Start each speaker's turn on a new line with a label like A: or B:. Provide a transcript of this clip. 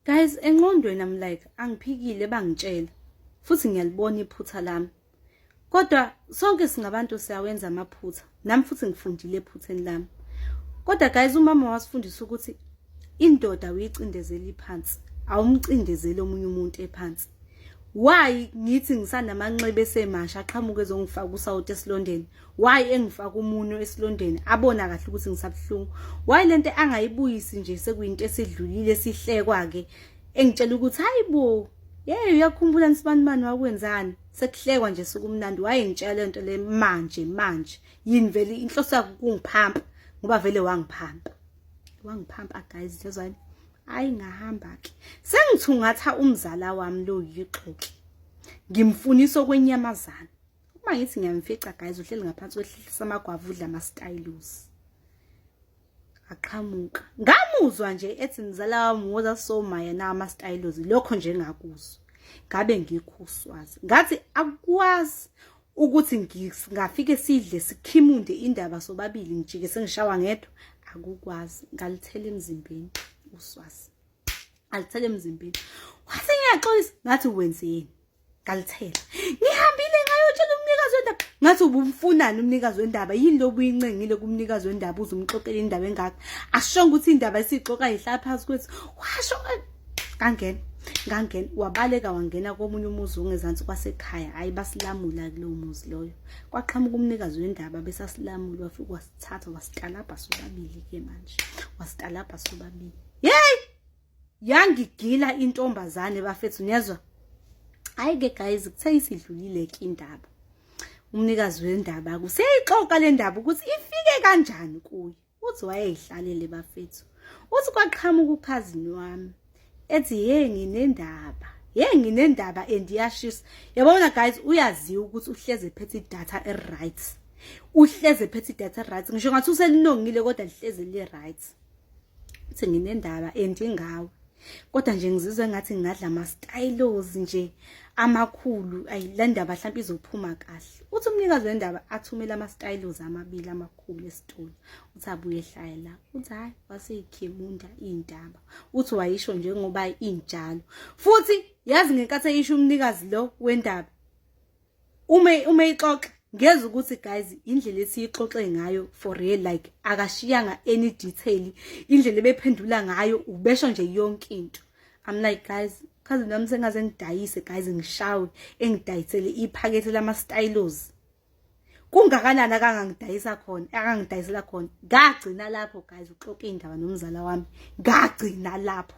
A: Guys, enqondweni I'm like angiphikile bangitshela futhi ngiyalibona iphutha lami. Kodwa sonke singabantu siyawenza amaphutha. Nami futhi ngifundile ephutheni lami. Kodwa guys umama wasifundisa ukuthi indoda uyicindezeli phansi, awumcindezeli omunye umuntu ephansi. Why ngithi ngisanamanxeba esemasha aqhamuke ezongifaka usawoti esilondeni why engifaka umunwe esilondeni abona kahle ukuthi ngisabuhlungu why lento angayibuyisi nje sekuyinto esidlulile sihlekwa ke engitshela ukuthi hayibo yeyo uyakhumbula nisibanibani wakwenzani sekuhlekwa nje sukumnandi wayengitshela lento le manje manje yini vele inhloso yakho kungiphampa ngoba vele wangiphampa wangiphampa guys lezwani hayi ngahamba ke sengithungatha umzala wami lo yixoki ngimfunisa okwenyamazana uma ngithi ngiyamfica guys uhleli ngaphansi kwehlisa amagwava udla ama stylos aqhamuka ngamuzwa nje ethi mzala wami woza so maya na ama stylos lokho nje ngakuzwa ngabe ngikhuswazi ngathi akwazi ukuthi ngingafike sidle sikhimunde indaba sobabili ngijike sengishawa ngedwa akukwazi ngalithela emzimbeni uswazi alithele emzimbeni wase ngiyaxolisa ngathi wenzeni ngalithela ngihambile ngayotshela umnikazi wendaba ngathi ubumfunani umnikazi wendaba yini lo buyincengile kumnikazi wendaba uze umxoxele indaba engaka ashonga ukuthi indaba isixoxa ihlala phansi kwethu washo kangena ngangena wabaleka wangena komunye umuzi ongezansi kwasekhaya hayi basilamula kulowo muzi loyo kwaqhamuka umnikazi wendaba besasilamula wafika wasithatha wasitalabha sobabili ke manje wasitalabha sobabili Yey! Yangigila intombazane bafethu niyezwa? Hayi ke guys kuthe isidlulile ke indaba. Umnikazi wendaba kuseyixoxa le ndaba ukuthi ifike kanjani kuye. Uthi wayeyihlalele bafethu. Uthi kwaqhamuka ukhazini wami ethi hey nginendaba hey nginendaba and iyashisa yabona guys uyaziwa ukuthi uhleze phethe data e right uhleze phethe data e right ngisho ngathi uselinongile kodwa lihleze li right uthi nginendaba endi ngawe kodwa nje ngizizwe ngathi ngingadla ama stylos nje amakhulu ayi le ndaba mhlawumbe izophuma kahle uthi umnikazi wendaba athumele ama stylos amabili amakhulu esitolo uthi abuye ehlaya la uthi hayi waseyikhemunda indaba uthi wayisho njengoba injalo futhi yazi ngenkathi eyisho umnikazi lo wendaba uma uma ixoxa ngeza ukuthi guys indlela esiyixoxe ngayo for real like akashiyanga any detail indlela ebephendula ngayo ubesho nje yonke into i'm like guys kaze nami sengaze ngidayise guys ngishawe engidayisele iphakethe lama stylos kungakanani akangangidayisa khona akangidayisela khona ngagcina lapho guys uxoke indaba nomzala wami ngagcina lapho